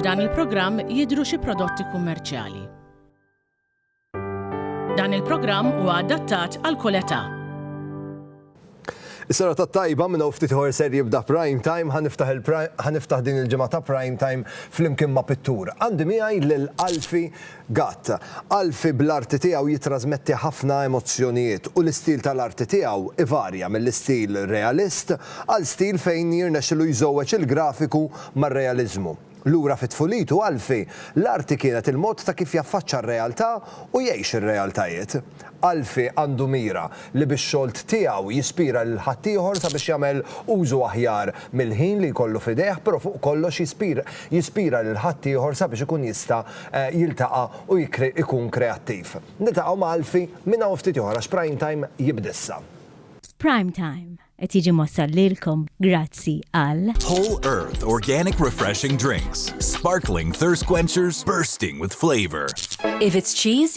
F'dan il-programm jidhru xi prodotti kummerċjali. Dan il-programm huwa adattat għal kull età. Is-sena ta' tajba minn hawn ftit ħor ser jibda prime time ħaniftaħ din il-ġimgħa ta' prime time flimkien ma' pittur. Għandi miegħi lil Alfi Gatt, Alfie bl-arti tiegħu jittrażmetti ħafna emozzjonijiet u l-istil tal-arti tiegħu ivarja mill-istil realist għal stil fejn jirnexxilu jżewweġ il-grafiku mar-realiżmu. Lura fi tfulitu Alfie, l-arti kienet il-mod ta' kif jaffaċċa r-realtà u jgħix ir-realtajiet. Alfie għandu mira li bix-xolt tiegħu jispira lil ħaddieħor sabiex jagħmel użu aħjar mill-ħin li jkollu f'idejh però fuq kollox jispira lil ħaddieħor sabiex ikun jista' jiltaqa' u jkun kreattiv. Niltaqgħu ma' Alfie minn hawn ftit ieħor għax Prime Time jibda issa. Prime Time qed jiġi mwassal lilkom grazzi għal. Whole Earth Organic Refreshing Drinks, Sparkling Thirst Quenchers Bursting With Flavour. If it's cheese,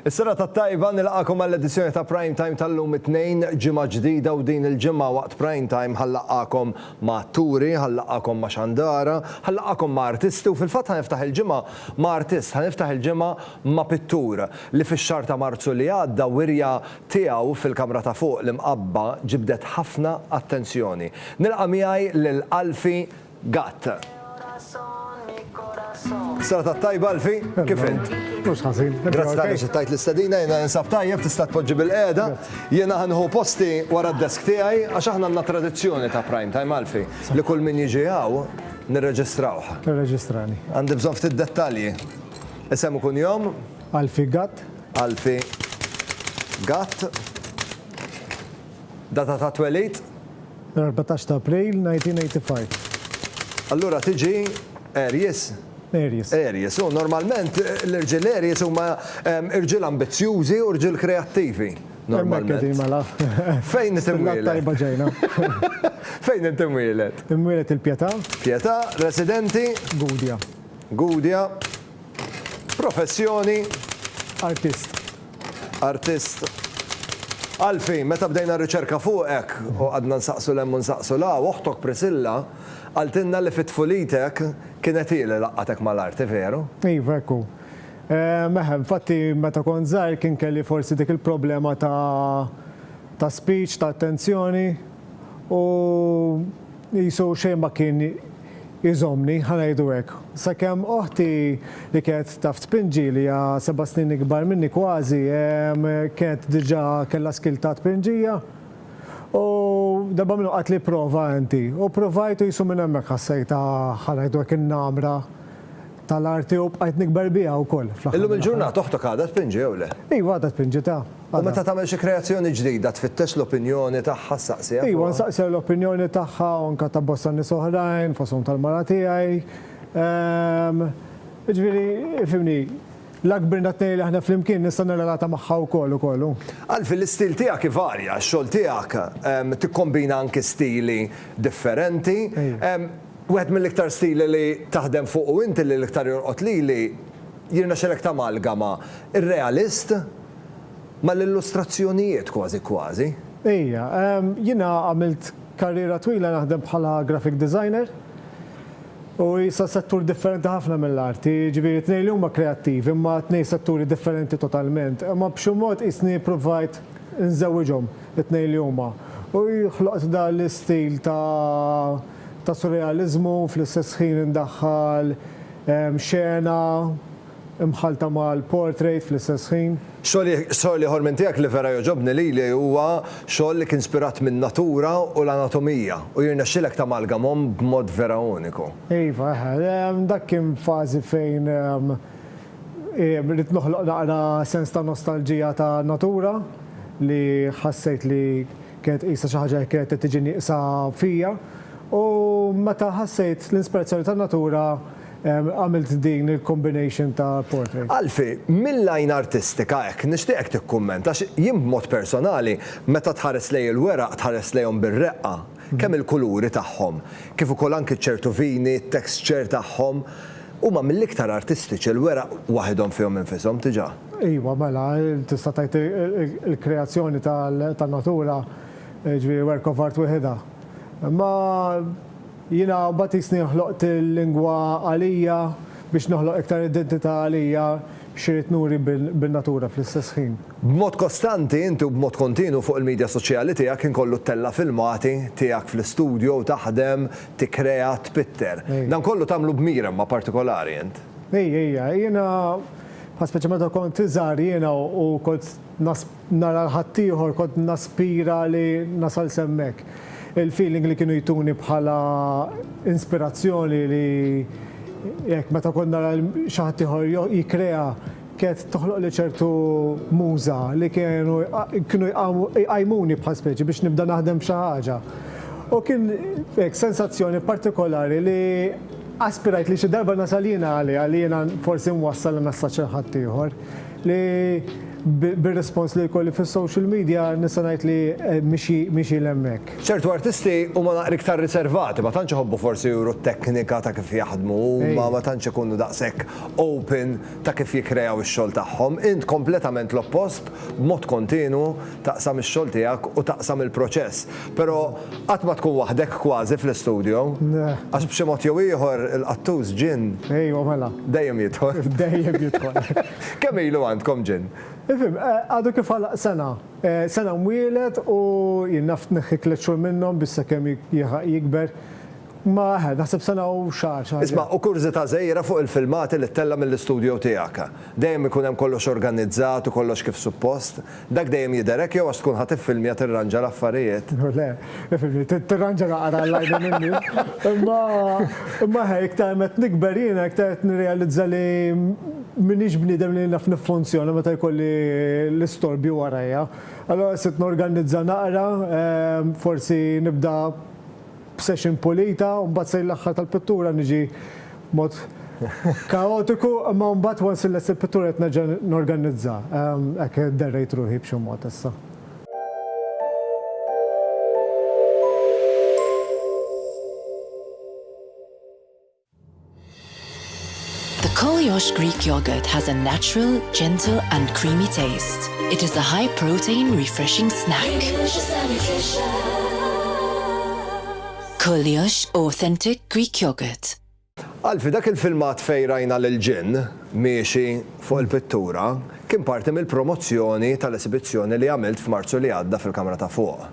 Is-sena ta' tajba nilqakom għall-edizzjoni ta' Prime Time tal-lum it-tnejn ġimgħa ġdida u din il-ġimgħa waqt Prime Time ħallaqakom ma' turi, ħallaqakom ma' xandara, ħallaqakom ma' artisti u fil-fatt ħaniftaħ il-ġimgħa ma' artist, ħaniftaħ il-ġimgħa ma' pittur li fix-xahar ta' Marzu li għadda wirja tiegħu fil-kamra ta' fuq l-imqabba ġibdet ħafna attenzjoni. Nilqa' miegħi lil Alfie Gatt. Serata t-tajba Alfie, kif int? Mhux ħażin. Grazzi tal-li aċċettajt l-istedina, jiena ninsab tajjeb tista' tpoġġi bil-qiegħda. Jiena ħa nieħu posti wara d-desk tiegħi għax aħna għandna tradizzjoni ta' prime time Alfie li kull min jiġi hawn nirreġistrawh. Irreġistrani. Għandi bżonn ftit dettalji. Isem u kunjom? Alfie Gatt. Alfie Gatt Data ta' twelid? L-erbatax ta' April 1985. Allura tiġi Aries? Aries. Aries. U normalment l-irġiel Aries huma irġiel ambizzjużi u rġiel kreattivi. Hemmhekk qegħdin mela. Fejn inti mwieled? Tajba ġejna. Fejn inti mwieled? Imwieled il-Pietà. Pietà, residenti? Gudja. Gudja. Professjoni? Artist. Artist. Alfie, meta bdejna r-riċerka fuqek, u qgħadna nsaqsu 'l hemm u nsaqsu 'l hawn, oħtok Priscilla qaltilna li fi tfulitek kienet hi li laqqgħatek mal-arti, veru? Iva, hekk hu. Eħe, infatti meta kont żgħir kien kelli forsi dik il-problema ta' ta' speech, ta' attenzjoni, u qisu xejn ma kien jżommni, ħa ngħidu hekk, sakemm oħti li kienet taf tpinġi, li hija seba' snin ikbar minni kważi, kienet diġà kellha skill ta' tpinġija. U darba minnhom qaltli prova inti, u provajt u qisu minn hemmhekk ħassejtha, ħa ngħidu hekk, in-namra. tal-arti u bqajt nikber biha wkoll fl-aħħar. Illum il-ġurnata oħtok għadha tpinġi jew le? Iva għadha tpinġi ta. U meta tagħmel xi kreazzjoni ġdida tfittex l-opinjoni tagħha, ssaqsiha fuqha? Iwa nsaqsiha l-opinjoni tagħha u anke ta' bosta nies oħrajn fosthom tal-mara tiegħi. Jiġifieri, ifhimni, la kbirna t-tnejn li aħna flimkien nista' nirrelata magħha wkoll ukoll u. Alfie, l-istil tiegħek ivarja, x-xogħol tiegħek tikkombina anke stili differenti. Wieħed mill-iktar stili li taħdem fuqu inti li l-iktar jolqot lili, jirnexxilek tamalgama r-realist mal-illustrazzjonijiet kważi kważi. Ija, jiena għamilt karriera twila naħdem bħala graphic designer u issa settur differenti ħafna mill-arti, jiġifieri t-tnejn li huma kreattivi imma tnejn setturi differenti totalment, imma b'xi mod qisni pprovajt inżewwiġhom it-tnejn li huma u ħloqt dan l-istil ta' ta' surrealiżmu u fl-istess ħin indaħħal xena mħallta mal-portrait fl-istess ħin. Xogħol ieħor minn tiegħek li vera jogħġobni lili huwa xogħol li kien spirat min-natura u l-anatomija u jirnexxilek tamalgamhom b'mod vera uniku. Iva, eħe. Dak kien f'fażi fejn Ridt noħloq naqra sens ta' nostalġija ta' natura li ħassejt li kienet qisha xi ħaġa li kienet qed tiġi nieqsa fija u meta ħassejt l-inspirazzjoni tan-natura għamilt din il-combination ta' portrait. Alfie, mill-għajn artistika hekk nixtieqek tikkummenta għax jien b'mod personali meta tħares lejn il-weraq tħares lejhom bir-reqqa Kemm il-kuluri tagħhom, kif ukoll anki ċertu vini, t-texture tagħhom, huma mill-iktar artistiċi, l-weraq waħidhom fihom infishom diġà. Iva, mela, tista' tgħid il-kreazzjoni tan-natura, jiġifieri work of art wieħidha. Imma jiena mbagħad jisni ħloqt il-lingwa għalija biex noħloq iktar identità għalija, X'irrid nuri bin-natura fl-istess ħin? B'mod kostanti, inti u b'mod kontinwu fuq il-midja soċjali tiegħek ħin kollu ttella' filmati tiegħek fl-istudjo u taħdem, tikkrea, tpitter. Dan kollu tagħmlu b'mira imma partikolari int. Ejja, ejja. Jiena, speċjalment meta kont iżgħar, jiena u kont nara l-ħaddieħor kont naspira li nasal s'hemmhekk. Il-feeling li kienu jtuni bħala inspirazzjoni li hekk meta kont nara xi ħaddieħor jikkrea kienet toħloqli ċertu muża li kienu kienu jqajmuni bħal speċi biex nibda naħdem f'xi ħaġa. U kien hekk sensazzjoni partikolari li aspirajt li xi darba nasal jiena għaliha li jiena forsi nwassal il-messaġġ lil ħaddieħor. Li bir-rispons li jkolli fis-social media nista' ngħid li mixi 'l hemmhekk. Ċertu artisti huma naqra iktar riservati, ma tantx iħobbu forsi juru t-teknika ta' kif jaħdmu huma, ma tantx ikunu daqshekk open ta' kif jikkreaw ix-xogħol tagħhom. Int kompletament l-oppost, b'mod kontinwu taqsam ix-xogħol tiegħek u taqsam il-proċess. Però qatt ma tkun waħdek kważi fl-istudjo. Le. Għax b'xi mod jew ieħor il-qattus ġinn. Ejwa mela. Dejjem jidħol. Dejjem jidħol. Kemm ilu għandkom ġinn? Ifhem, għadu kif għalaq sena. Sena mwieled u jien naf tneħħi tliet xhur minnhom biex sakemm jilħaq jikber. Ma eħe, naħseb sena u xahar, xaharejn. Isma', u kurżità żgħira fuq il-filmati li ttella' mill-istudjo tiegħek. Dejjem ikun hemm kollox organizzat u kollox kif suppost? Dak dejjem jidher hekk jew għax tkun ħadt iffilmja tirranġa l-affarijiet? Le, ifhimni, tirranġa naqra l-għajnejn in-nies. Imma, imma eħe, iktar ma qed nikber jiena iktar qed nirrealizza li m'iniex bniedem li naf niffunzjona meta jkolli l-istorbju warajja. Allura sirt norganizza naqra, forsi nibda, b'session pulita u mbagħad sejn l-aħħar tal-pittura niġi b'mod kaotiku imma mbagħad once illest il-pittura qed nerġa' norganizza. Hekk derrejt ruħi b'xi mod issa. The Kolyosh Greek yogurt has a natural, gentle and creamy taste. It is a high protein refreshing snack. Kolyosh authentic Greek yogurt. Alfi, dak il-filmat fejn rajna lil ġinn miexi fuq il-pittura kien parti mill-promozzjoni tal-esibizzjoni li għamilt f'Marzu li għadda fil-kamra ta' fuq.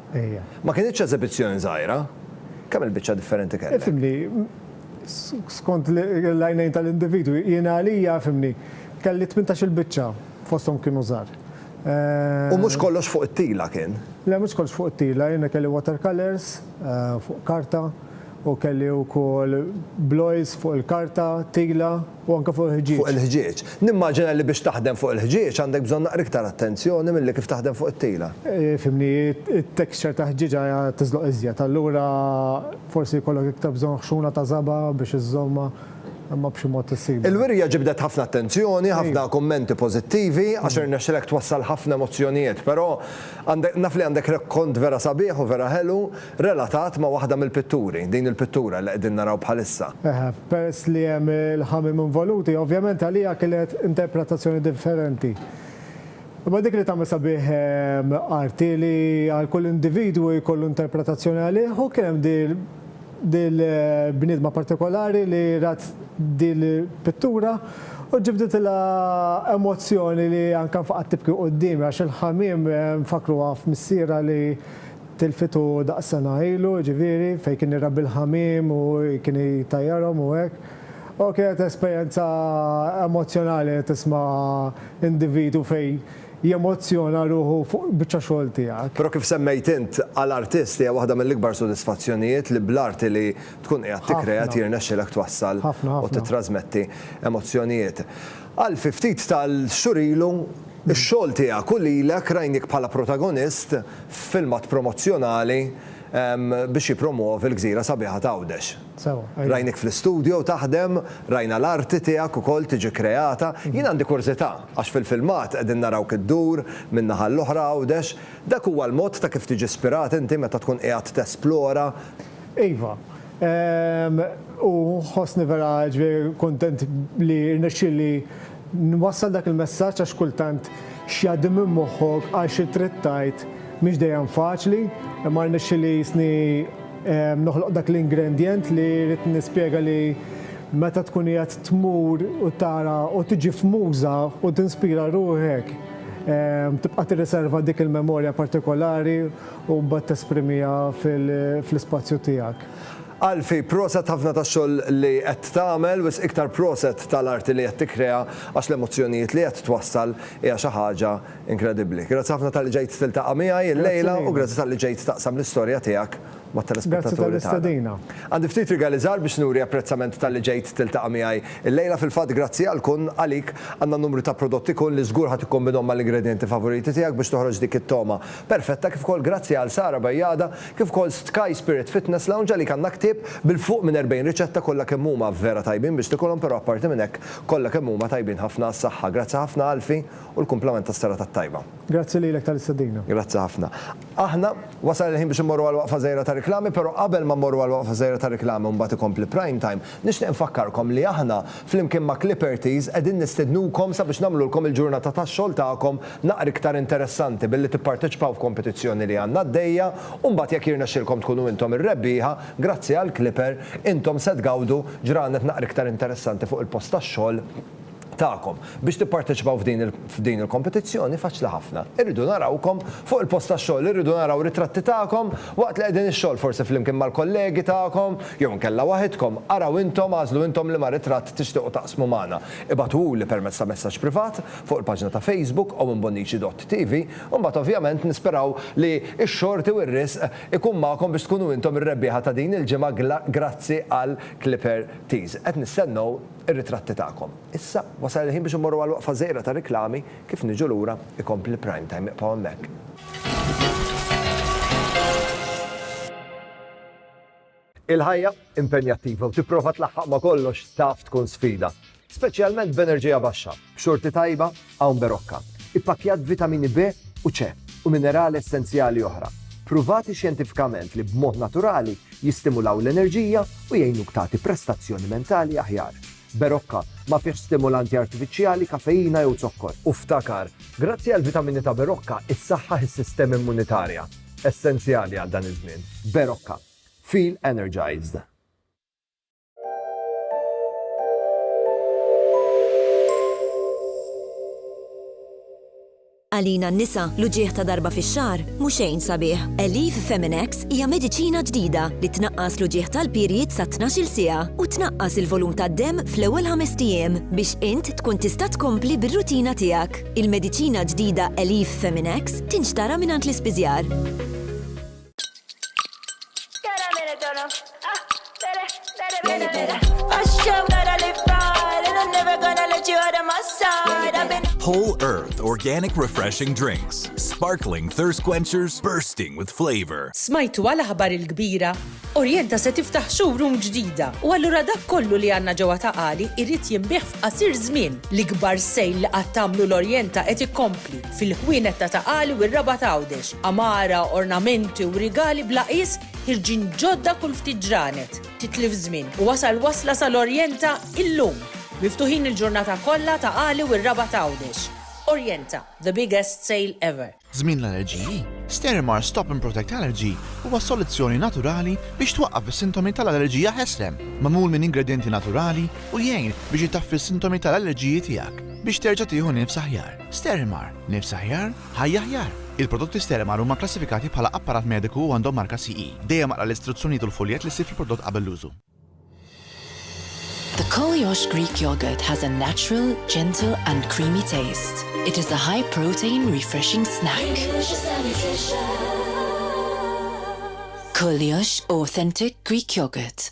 Ma kinitx eżibizzjoni żgħira. Kemm il-biċċa differenti kellek? skont l-għajnejn tal-individwi, jiena għalija, fhimni, kelli tmintax-il biċċa, fosthom kienu żgħar. U mhux kollox fuq it-tila kien? Le, mhux kollox fuq it-tila, jiena kelli watercolours fuq karta u kelli wkoll bl-oils fuq il-karta, tila. U anke fuq il-ħġieġ. Fuq il-ħġieġ. Nimmaġina li biex taħdem fuq il-ħġieġ għandek bżonn naqra iktar attenzjoni milli kif taħdem fuq it-tila. Fimni, it-texture ta' ħġieġa tiżloq iżjed, allura forsi jkollok iktar bżonn ħxuna ta' żaba' biex iżżommha, imma b'xi mod issibha. Il-wirja ġibdet ħafna attenzjoni, ħafna kummenti pożittivi, għax irnexxilek twassal ħafna emozzjonijiet, però għandek, naf li għandek rekkont vera sabiħ u vera ħelu. relatat ma' waħda mill-pitturi, din il-pittura li qegħdin naraw bħalissa. Eħe, peress li hemm il-ħamiem involuti, ovvjament għalija kienet interpretazzjoni differenti. Imma dik li tagħmel sabiħ art hi li għal kull individwu jkollu interpretazzjoni għalih u kien hemm dil-bniedma partikolari li rat dil-pittura u ġibditilha emozzjoni li anke nfaqgħet tibki quddiemi għax il-ħamiem nfakkruha f'missierha li Tilfitu daqs sena ilu, jiġifieri, fejn kien irabbi l-ħamiem u kien jtajjarhom u hekk. U kienet esperjenza emozzjonali li tisma' individwu fejn jemozzjona ruħu fuq biċċa xogħol tiegħek. Però kif semmejt int, għal artist hija waħda mill-ikbar sodisfazzjonijiet li bl-arti li tkun qiegħed tikkrea Ħafna. jirnexxilek twassal Ħafna, u ħafna. tittrasmetti emozzjonijiet. Għal fi ftit tal-xhur ilu, ix-xogħol tiegħek u lilek rajniek bħala protagonist f'filmat promozzjonali biex jippromwovi l-gżira sabiħa ta' Għawdex. Rajniek fl-istudjo taħdem, rajna l-arti tiegħek ukoll tiġi kreata. Jien għandi kurżità, għax fil-filmat qegħdin narawk iddur minn naħa 'l oħra Għawdex, dak huwa l-mod ta' kif tiġi spirat inti meta tkun qiegħed tesplora? Iva, u nħossni vera ġifieri kuntent li rnexxieli nwassal dak il-messaġġ għax kultant x'jgħaddi minn moħħok għal xi trid tgħid mhix dejjem faċli, imma rnexxielitni noħloq dak l-ingrendjent li ridt nispjega li meta tkun qiegħed tmur u tara u tiġi f'muża u tinspira ruħek tibqa' tirriserva dik il-memorja partikolari u mbagħad tesprimiha fl-ispazju tiegħek. Alfie, proset ħafna tax-xogħol li qed tagħmel, wisq iktar proset tal-arti li qed tikkrea għax l-emozzjonijiet li qed twassal hija xi ħaġa inkredibbli. Grazzi ħafna talli ġejt tiltaqa' miegħi llejla u grazzi talli ġejt taqsam l-istorja tiegħek mat-telespettaturi tagħna. Għandi ftit rigali żgħar biex nuri apprezzament talli ġejt tiltaqa' miegħi llejla, fil-fatt grazzi għal kun għalik għandna numru ta' prodotti kun li żgur ħa tikkombinhom mal-ingredjenti favoriti tiegħek biex toħroġ dik it-togħma Perfetta kif ukoll grazzi għal Sara Bajada kif ukoll Sky Spirit Fitness Lounge għalik għandna ktieb bil fuq minn 40 riċetta kollha kemm huma vera tajbin biex tikulhom però apparti minn hekk kollha kemm huma tajbin ħafna għas-saħħa. Grazzi ħafna Alfie u l-kumplament tas-serata t-tajba. Grazzi lilek tal-istedina. Grazzi ħafna. Aħna, wasal il-ħin biex immorru għal waqfa żgħira tar-riklami, però qabel ma mmorru għal waqfa żgħira tar-riklami u mbagħad ikompli Prime Time, Nixtieq infakkarkom li aħna, flimkien ma' Clippertys, qegħdin nistednukom sabiex nagħmlulkom il-ġurnata tax-xogħol tagħkom naqra iktar interessanti billi tipparteċipaw f'kompetizzjoni li għandna għaddejja u mbagħad jekk jirnexxilkom tkunu intom ir-rebbieħa, grazzi għall-Clipper, intom se tgawdu ġranet naqra iktar interessanti fuq il-post tax-xogħol. tagħkom. Biex tipparteċipaw f'din il-kompetizzjoni faċli ħafna. Irridu narawkom fuq il-post tax-xogħol, irridu naraw ritratti tagħkom waqt li qegħdin ix-xogħol forsi flimkien mal-kollegi tagħkom jew inkella waħidkom. Araw intom, agħżlu intom liema ritratt tixtiequ taqsmu magħna. Ibagħtuhuli permezz ta' messaġġ privat fuq il-paġna ta' Facebook owenbonnici.tv u mbagħad ovvjament nisperaw li x-xorti u r-riżq ikun magħkom biex tkunu intom ir-rebbieħa ta' din il-ġimgħa grazzi għal Clipper Tees. Qed nistennew ir-ritratti tagħkom. Issa, wasal il-ħin biex immorru għal waqfa żgħira ta' riklami, kif niġu lura, ikompli l-Prime Time, ibqgħu hemmhekk. Il-ħajja impenjattiva u tipprova tlaħħaq ma' kollox taf tkun sfida, speċjalment b'enerġija baxxa, b'xorti tajba Hawn Berocca, ippakkjat b'vitamini B u C u minerali essenzjali oħra, pruvati xjentifikament li b'mod naturali jistimulaw l-enerġija u jgħinuk tagħti prestazzjoni mentali aħjar. Berocca ma fihx stimulanti artifiċjali, kafeina jew zokkor. U ftakar, grazzi għall-vitamini ta' Berocca issaħħaħ is-sistema immunitarja, essenzjali għal dan iż-żmien. Berocca. Feel energized. Għalina n-nisa, l-uġigħ ta' darba fix-xahar mhu xejn sabiħ. Elif Feminex hija mediċina ġdida li tnaqqas l-uġigħ tal-period sa 12-il siegħa u tnaqqas il-volum tad-demm fl-ewwel ħames ijiem biex int tkun tista' tkompli bir-rutina tiegħek. Il-mediċina ġdida Elif Feminex tinxtara mingħand l-ispiżjar. Tara mela dona, ah, bere, bere, bere, bere. Għax kemm nara li far, and I'm never gonna let you out of my sight. I've been. Whole Earth Organic Refreshing Drinks. Sparkling thirst quenchers bursting with flavor. Smajtu għal aħbar il-kbira? Orienta se tiftaħ showroom ġdida u allura dak kollu li għandna ġewwa ta' qali jrid jinbih f'qasir żmien. L-ikbar sejl li qatt tagħmlu l-Orienta qed ikompli. fil-ħwienet ta' Ta' Qali u r-Rabat Għawdex, għamara, ornamenti u rigali bla qies ħirġin ġodda kull ftit ġranet. Titlif żmien u wasal wasla sal-Orjenta illum! Miftuħin il-ġurnata kollha Ta' Qali u r-Rabat Għawdex. Orjenta, the biggest sale ever! Żmien l-allerġiji, Sterimar Stop and Protect Allergy huwa soluzzjoni naturali biex twaqqaf is-sintomi tal-allerġija ħesrem. Magħmul minn ingredjenti naturali u jgħin biex itaffi s-sintomi tal-allerġiji tiegħek biex terġa' tieħu nifs aħjar. Sterimar, nifs aħjar, ħajja aħjar! Il-prodotti Sterimar huma kklassifikati bħala apparat mediku u għandhom marka CE. Dejjem aqra l-istruzzjonijiet u l-fuljett li ssib fil-prodott qabel l-użu. The Koliosh Greek Yogurt has a natural, gentle and creamy taste. It is a high protein refreshing snack. Koliosh Authentic Greek Yogurt.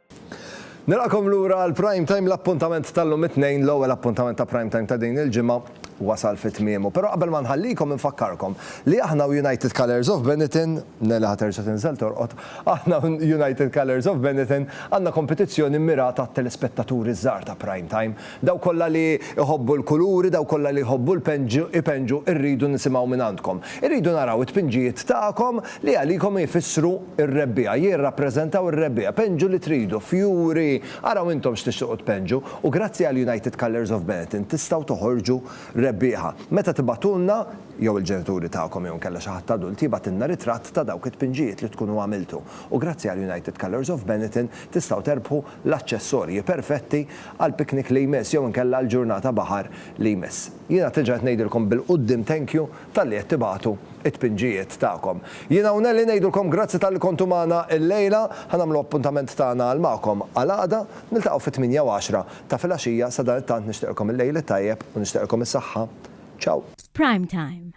Nilqakom lura għal Prime Time l-appuntament tal-lum it-Tnejn, l-ewwel appuntament ta' Prime Time ta' din il-ġimgħa wasal fi tmiemu. Però qabel ma nħallikom infakkarkom li aħna u United Colours of Benetton, Nele ħa terġa' tinżel torqod, aħna u United Colours of Benetton għandna kompetizzjoni mmirata għat-telespettaturi ż-żgħar ta' Prime Time. Dawk kollha li jħobbu l-kuluri, dawk kollha li jħobbu l-ipenġu irridu nisimgħu mingħandkom. Irridu naraw it-tpinġijiet tagħkom li għalikom ifissru r-rebbiegħa, jirrappreżentaw ir-rebbiegħa. Penġu li tridu, fjuri, araw intom x'tixtiequ tpenġu u grazzi għal United Colours of Benetton tistgħu toħorġu rebbieħa. Meta tibagħtulna, jew il-ġenituri tagħkom jew inkella xi ħadd adult jibgħatilna ritratt ta' dawk it-tpinġijiet li tkunu għamiltu u grazzi għal United Colours of Benetton tistgħu terbħu l-aċċessorji perfetti għall-picnic li jmiss jew inkella għall-ġurnata baħar li jmiss. Jiena qed diġà qed ngħidilkom bil-quddiem thank you talli qed tibagħtu t-tpinġijiet tagħkom. Jiena u Nellie ngħidulkom grazzi talli kontu magħna illejla. Ħa nagħmlu appuntament tagħna għal magħkom għal għada. Niltaqgħu fit-tmienja u għaxra ta' filgħaxija. Sadanittant nixtieqilkom il-lejl it-tajjeb u nixtieqilkom is-saħħa. Ciao! F'Prime Time,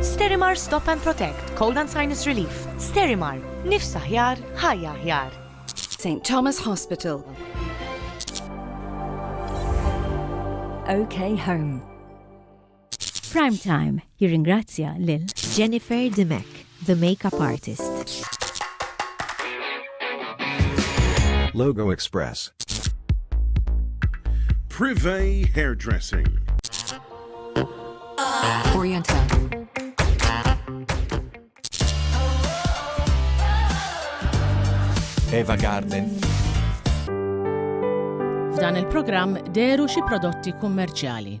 Sterimar Stop and Protect, Cold and Sinus Relief. Sterimar, nifs aħjar, ħajja aħjar. St. Thomas Hospital. OK Home. Prime Time jirringrazzja lil Jennifer Dimek. The Makeup Artist. Logo Express. Privé Hairdressing. Oriental. Eva Garden. F'dan il-programm deru xi prodotti kummerċjali.